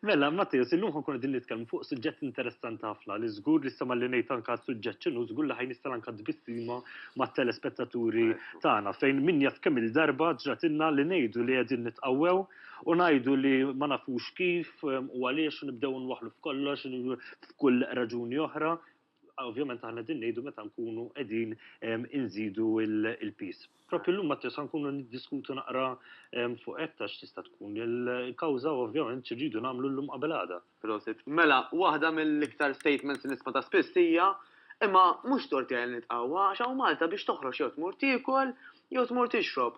Mela, Mattias, illum ħankun din nitkellmu fuq suġġett interessanti ħafna li żgur li sema li ngħid anka suġġett ċinu żgur li ħajn nista' anka tbissima mat-telespettaturi tagħna fejn min jaf kemm il-darba ġratilna li ngħidu li qegħdin nitqawwew u ngħidu li ma nafux kif u għaliex nibdew nwaħlu f'kollox f'kull raġuni oħra Ovvjament aħna din ngħidu meta nkunu qegħdin inżidu l-piż. Propju llum Matteo sa nkunu niddiskutu naqra fuq hekk ta' x'tista' tkun il-kawża u ovvjament x'irridu nagħmlu llum qabel għada. Prosit. Mela, waħda mill-iktar statements li nisma' ta' spiss hija, Imma mhux tort tiegħi li nitqawwa għax hawn Malta biex toħroġ jew tmur tiekol jew tmur tixrob.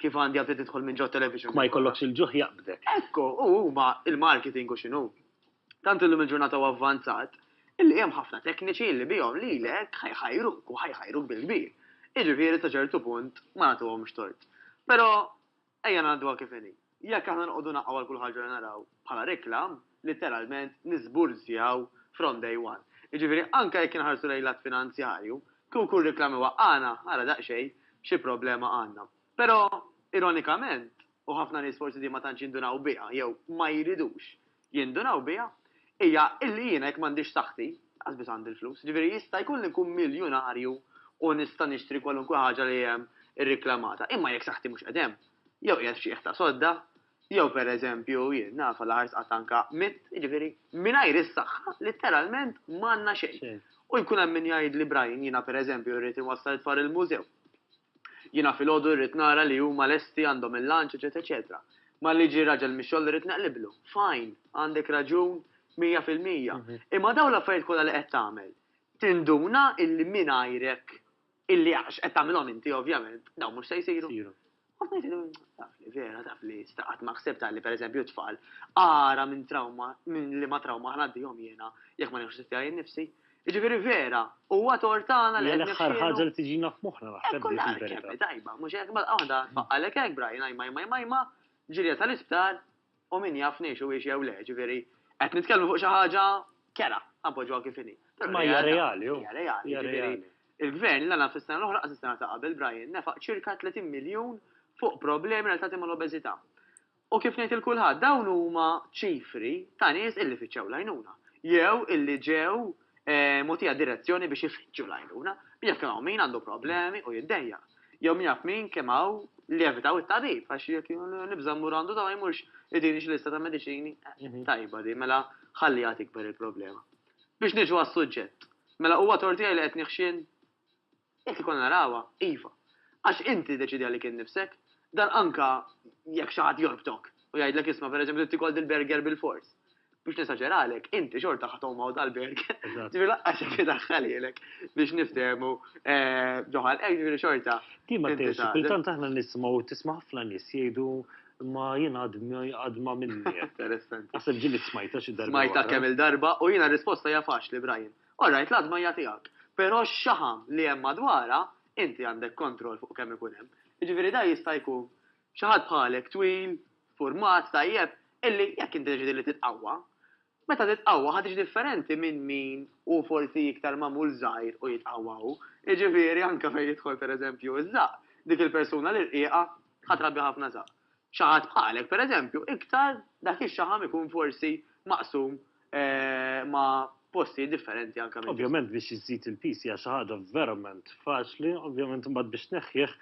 kif għandi għabdi tidħol minn ġo television. Ma jkollokx il-ġuħ jaqbdek. Ekku, u huma il-marketing u xinu. Tant illum il-ġurnata u avvanzat, illi hemm ħafna tekniċi li bihom li lek ħajħajru u ħajħajru bil-kbir. Iġifieri sa ċertu punt ma nagħtuhomx tort. Però ejja ngħadduha kif inhi. Jekk aħna noqogħdu naqgħu għal kull ħaġa li naraw bħala reklam, litteralment niżburzjaw from day one. Jiġifieri anke jekk inħarsu lejn l-att finanzjarju, kieku kull reklam iwaqqagħna, ara daqsxejn xi problema għandna. Però, ironikament, u ħafna nies forsi din ma tantx jindunaw biha jew ma jridux jindunaw biha, hija illi jiena jekk m'għandix saħħti, lanqas biss għandi l-flus. Jiġifieri jista' jkun li nkun miljunarju u nista' nixtri kwalunkwe ħaġa li hemm irriklamata, imma jekk saħħti mhux qed hemm, jew qiegħed f'ċieħ ta' sodda, jew pereżempju, jien naf għal aħħar sqatt anke mitt, jiġifieri mingħajr is-saħħa litteralment m'għandna xejn. U jkun hemm min jgħidli, Brian, jiena pereżempju rrid inwassal it-tfal il-mużew. Jiena filgħodu irrid nara li huma lesti għandhom il-lunch eċetera eċetera. Malli jiġi raġel mix-xogħol irrid neqliblu. Fine, għandek raġun mija fil-mija. Imma dawn l-affarijiet kollha li qed tagħmel, tinduna illi mingħajrek, illi għax qed tagħmilhom inti ovvjament, dawn mhux se jsiru. Kont ngħidlu, taf li vera, taf li issa qatt ma ħsibtha li pereżempju t-tfal ara minn trawma, minn liema trawma ħa ngħaddihom jiena jekk ma nieħux ħsieb tiegħi nnifsi. Jiġifieri vera, huwa tort tagħna li qed nifxklu. Hija l-aħħar ħaġa li tiġina f'moħħna naħseb dik il-verità. Hekk hu l-għan, kemm hi tajba, mhux hekk? Malqa waħda tfaqqalek hekk, Brian, ajma ajma ajma ajma, ġirja tal-isptar u min jaf ngħixu hiex jew le, jiġifieri qed nitkellmu fuq xi ħaġa kera, ħa npoġġuha kif inhi. Imma hija reali, hu. Hija reali, jiġifieri il-Gvern la naf is-sena l-oħra, qas is-sena ta' qabel, Brian, nefaq ċirka 30 miljun fuq problemi relatati mal-obeżità. U kif ngħid 'il kulħadd, dawn huma ċifri ta' nies illi fittxew l-għajnuna, jew illi ġew mogħtija direzzjoni biex ifittxu l-għajnuna. Min jaf kemm hawn min għandu problemi u jiddejjaq. Jew min jaf min kemm hawn li evitaw it-tabib għax jekk nibża' mmur għandu dawn ma jmurx idini xi lista ta' mediċini. Tajba din, mela ħalliha tikber il-problema. Biex niġu għas-suġġett. Mela huwa tort tiegħi li qed nieħxien? Jekk ikollna narawha, iva. Għax inti tiddeċiedi għalik innifsek. Dan anke jekk xi ħadd jorbtok u jgħidlek isma' pereżempju trid tikol dil-burger bilfors. Biex nesaġeralek, inti xorta ħa tgħum hawn tal-burger. Ġifieri lanqas jekk idaħħal lilek biex niftehmu ġo ħalqek, ġifieri xorta. Din ma tgħinx. Kultant aħna nisimgħu, tisma' ħafna nies jgħidu imma jien għad ma minni. Interessanti. Naħseb ġieli smajtha xi darba. Smajtha kemm-il darba u jiena r-risposta hija faċli, Brian. All right, l-għadma hija tiegħek, però x-xaħam li hemm madwarha inti għandek kontroll fuq kemm ikun hemm. Jiġifieri dan jista' jkun xi ħadd bħalek twil, ffurmat tajjeb, illi jekk inti deċidi li titqawwa, meta titqawwa ħa tiġi differenti minn min hu forsi iktar magħmul żgħir u jitqawwa hu. Jiġifieri anke fejn jidħol pereżempju ż-żaqq, dik il-persuna l-irqiqa ħa trabbi ħafna żaqq. Xi ħadd bħalek, per eżempju, iktar dak ix-xaħam ikun forsi maqsum ma' postijiet differenti anke minn. Ovvjament biex iżżid il-piż hija xi ħaġa verament faċli, ovvjament imbagħad biex tneħħih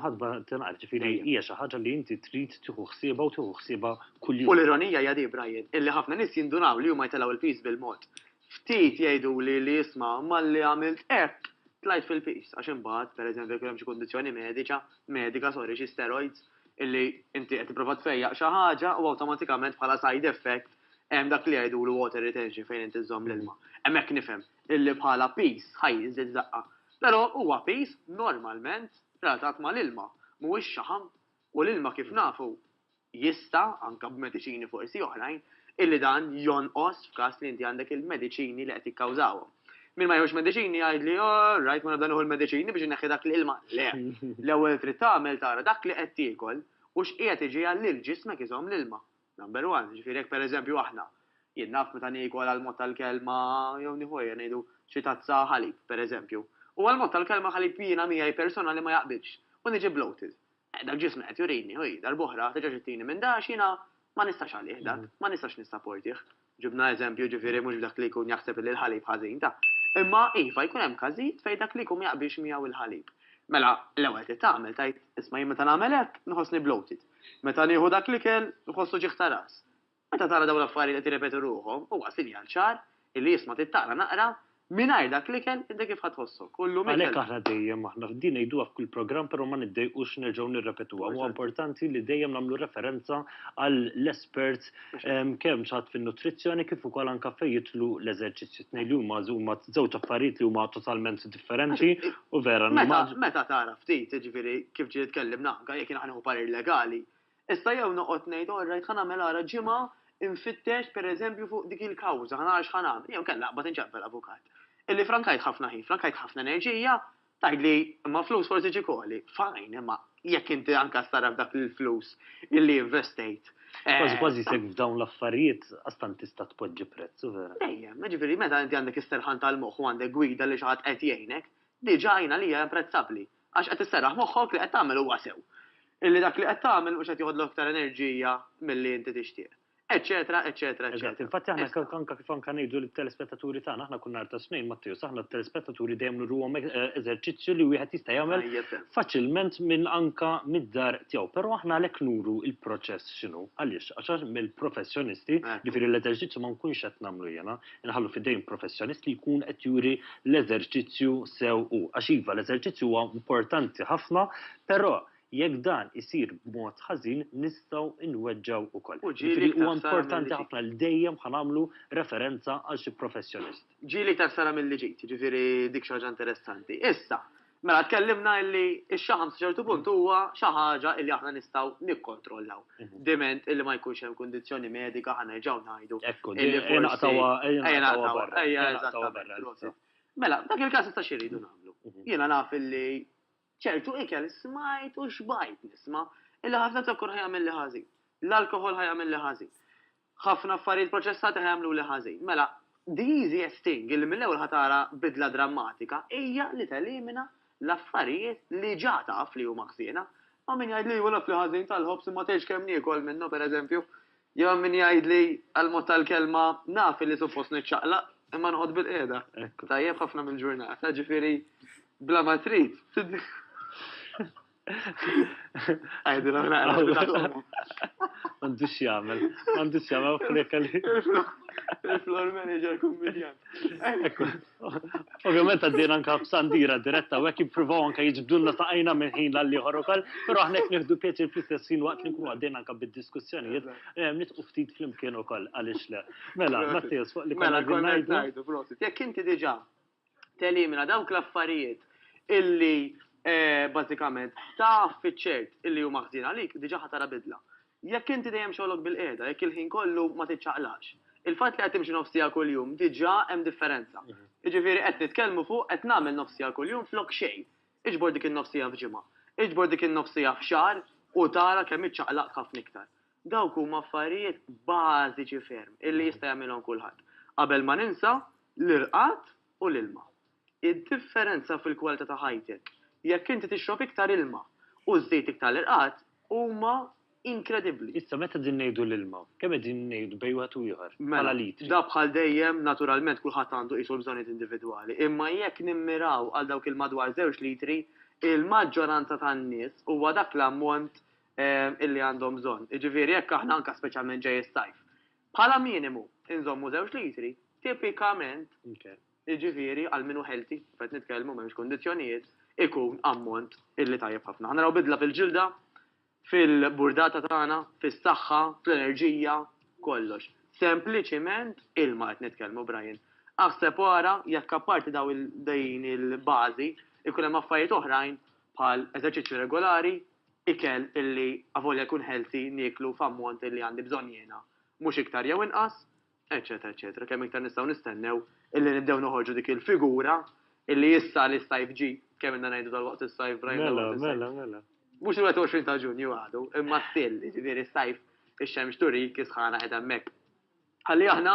ħadd ma tingħarf, ġifieri hija xi ħaġa li inti trid tieħu ħsiebha u tieħu ħsiebha kuljum. U l-ironija hija di, Brian, illi ħafna nies jindunaw li huma jtellgħu l-piż bil-mod Ftit jgħiduli li isma' malli għamilt hekk tlajt fil-piż għax imbagħad, pereżempju jekk ikun hemm xi kundizzjoni mediċa, medika sorry, xi steroids, illi inti qed tipprova tfejjaq xi ħaġa u awtomatikament bħala side effect hemm dak li jgħidulu water retention fejn inti żżomm l-ilma. Hemmhekk nifhem illi bħala piż ħa jiżdied daqqa. Però huwa piż normalment relatat mal-ilma, mhuwiex xaħam U l-ilma kif nafu jista', anke b'mediċini forsi oħrajn, illi dan jonqos f'każ li inti għandek il-mediċini li qed jikkawżawhom. Min ma jieħux mediċini jgħidli, all right, ma nibda nieħu l-mediċini biex inneħħi dak l-ilma. Le! L-ewwel trid tagħmel tara dak li qed tiekol u x'qiegħed iġiegħel lil ġismek iżomm l-ilma. Number one, jiġifieri jekk pereżempju aħna, jien naf meta niekol għall-mod tal-kelma jew nieħu ejja ngħidu xi tazza ħalib, pereżempju, u għall-mod tal-kelma ħalib jiena miegħi personali ma jaqbilx u niġi bloated, dak ġismi qed jurini, u hi, darb'oħra, terġax ittini minn da għax jiena ma nistax għalih dak, ma nistax nissaportih. Ġibna eżempju, ġifieri mhux b'dak li jkun jaħseb li l-ħalib ħażin, ta. Imma, iva, jkun hemm każijiet fejn dak li jkun ma jaqbilx miegħu l-ħalib. Mela, l-ewwel trid tagħmel, tgħid, isma' jien meta nagħmel hekk, nħossni bloated. Meta nieħu dak l-ikel, nħoss uġigħ ta' ras. Meta tara dawn l-affarijiet qed jirrepetu ruħhom, huwa sinjal ċar illi isma' trid taqra naqra Mingħajr dak l-ikel inti kif ħa tħossok? U llum ikel. Għalhekk aħna dejjem, aħna, din ngħiduha f'kull programm però ma niddejqux nerġgħu nirrepetuha. Huwa importanti li dejjem nagħmlu referenza għall-esperts kemm x'għadd fin-nutrizzjoni kif ukoll anke fejn jidħlu l-eżerċizzji. Tnejn li huma huma żewġ affarijiet li huma totalment differenti u vera. Meta tara ftit, jiġifieri kif ġieli tkellimna anke jekk jien ħa nieħu parir legali, Issa jew noqgħod ngħid all right ħa nagħmel ara ġimgħa infittex pereżempju fuq dik il-kawża, ħa nara x'ħa nagħmel, jew inkella aqbad inċempel avukat. Illi frankajt ħafna ħin, frankajt ħafna enerġija, tgħidli imma flus forsi ġie koli. Fine, imma jekk inti anke ssarraf dak il-flus illi investejt. Kważi kważi jisek f'dawn l-affarijiet għastant tista' tpoġġi prezz, u vera. Dejjem, jiġifieri meta inti għandek is-serħan tal-moħħ u għandek gwida li xi ħadd qed jgħinek, diġà jien għalija imprezzabbli. Għax qed isserraħ moħħok li qed tagħmel huwa sew. Illi dak li qed tagħmel mhux qed joħodlok iktar enerġija milli inti tixtieq. Eċċetera, eċċetera, eċċetera. Eżatt, infatti aħna Issa. anke kif anke ngħidu lit-telespettaturi tagħna, aħna kull nhar tas-Tnejn, Mattew, sa aħna t-telespettaturi dejjem nurruhom e- e- eżerċizzju li wieħed jista' jagħmel Tajjeb sew. faċilment minn anka mid-dar tiegħu. Però aħna għalhekk nuru il-proċess x'inhu. Għaliex? Għax għax mill-professjonisti, Ekku. ġifieri l-eżerċizzju ma nkunx qed nagħmlu jiena, inħallu f'idejn professjonist li jkun qed juri l-eżerċizzju sew hu. Għax iva, l-eżerċizzju huwa importanti ħafna, però jekk dan isir b'mod ħażin nistgħu nweġġgħu wkoll. Jiġifieri huwa importanti ħafna li dejjem ħa nagħmlu referenza għal xi professjonist. Ġieli ta' ħsara milli ġejt, jiġifieri dik xi ħaġa interessanti. Issa, Mela tkellimna illi x-xaħam sa ċertu punt huwa xi ħaġa illi aħna nistgħu nikkontrollaw. Diment illi ma jkunx hemm kundizzjoni medika ħa nerġgħu ngħidu. Ekku, ejja naqtgħuha, ejja naqtgħuha barra. Ejja eżattament. Mela, dak il-każ issa xi rridu nagħmlu? Jiena naf illi ċertu ikel smajt u xbajt nisma' illi ħafna zokkor ħajamilli ħażin. L-alkoħol ħajamilli ħażin. Ħafna affarijiet proċessati ħa jagħmluli ħażin. Mela, the easiest thing li mill-ewwel ħa tara bidla drammatika hija li telimina l-affarijiet li ġa taf li huma ħżiena. Hawn min jgħidli iva l-akli ħażin tal-ħobż imma tgħidx kemm niekol minnha, per eżempju. Jew hemm min jgħidli għal mod tal-kelma naf li suppost niċċaqlaq imma noqgħod bil-qiegħda. Tajjeb ħafna mill-ġurnata, ġifieri bla ma trid. Għajdi l naqra. Għandux jgħamil, għandux jgħamil u freka li. Il-floor manager kummedjan. Ovvijament għaddin anka b'sandira diretta u għek jipruvaw anka jġbdunna ta' għajna minn ħin l-għalli ħorokal, pero għahnek nifdu pieċi fl-istess ħin waqt li nkunu għaddin anka bid-diskussjoni. Eh, nitqu ftit fl-imkien u koll, għalix le. Mela, Mattias, fuq li konna għaddin. Mela, jek inti diġa telimina dawk l-affarijiet illi bażikament taf fiċ-ċert illi huma ħżiena għalik, diġà ħa tara bidla. Jekk inti dejjem xogħlok bil-qiegħda, jekk il-ħin kollu ma tiċċaqlaqx, il-fatt li qed timxi nofs siegħa kuljum diġà hemm differenza. Jiġifieri qed nitkellmu fuq qed nagħmel nofs siegħa kuljum flok xejn. Iġbor dik in-nofs siegħa f'ġimgħa. Iġbor dik in-nofs siegħa f'xahar u tara kemm iċċaqlaqt ħafna iktar. Dawk huma affarijiet bażiċi ferm illi jista' jagħmilhom kulħadd. Qabel ma ninsa, l-irqad u l-ilma. Id-differenza fil-kwalità ta' ħajtek jekk inti tixrob iktar ilma u żżid iktar l-irqad huma inkredibbli. Issa meta qegħdin ngħidu l-ilma, kemm qegħdin ngħidu bejn wieħed u ieħor bħala litri? Mela, da bħal dejjem, naturalment kulħadd għandu qisu l-bżonnijiet individwali, imma jekk nimmiraw għal dawk il-madwar żewġ litri, il-maġġoranza tan-nies huwa dak l-ammont illi għandhom bżonn. Jiġifieri jekk aħna anke speċjalment ġej is-sajf, bħala minimu inżommu żewġ litri, tipikament, jiġifieri għal min hu healthy, qed nitkellmu m'hemmx kundizzjonijiet, ikun ammont illi tajjeb ħafna. Ħa naraw bidla fil-ġilda, fil-burdata tagħna, fis-saħħa, fl-enerġija, kollox. Sempliċiment ilma qed nitkellmu Brian. Aħseb wara jekk apparti daw din il-bażi ikun hemm affarijiet oħrajn bħal eżerċizzju regolari, ikel illi avolja jkun healthy nieklu f'ammont illi għandi bżonn jiena, mhux iktar jew inqas, eċċetera eċċetera Kemm iktar nistgħu nistennew illi nibdew noħorġu dik il-figura illi issa li s-sajf ġie, kemm ilna ngħidu dalwaqt is-sajf Brian dalwaqt is-sajf. Mela, mela, mela. Mhux il-21 ta' Ġunju għadu, imma still, jiġifieri s-sajf ix-xemx turik is-sħana qiegħda hemmhekk. Ħalli aħna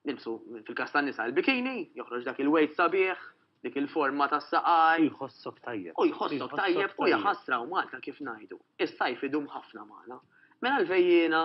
nilbsu fil-każ tan-nisa l-bikini, joħroġ dak il-wejt sabiħ, dik il-forma tas-saqaj. U jħossok tajjeb. U jħossok tajjeb u jaħasra u Malta kif ngħidu. Is-sajf idum ħafna magħna. Mela l-vejjiena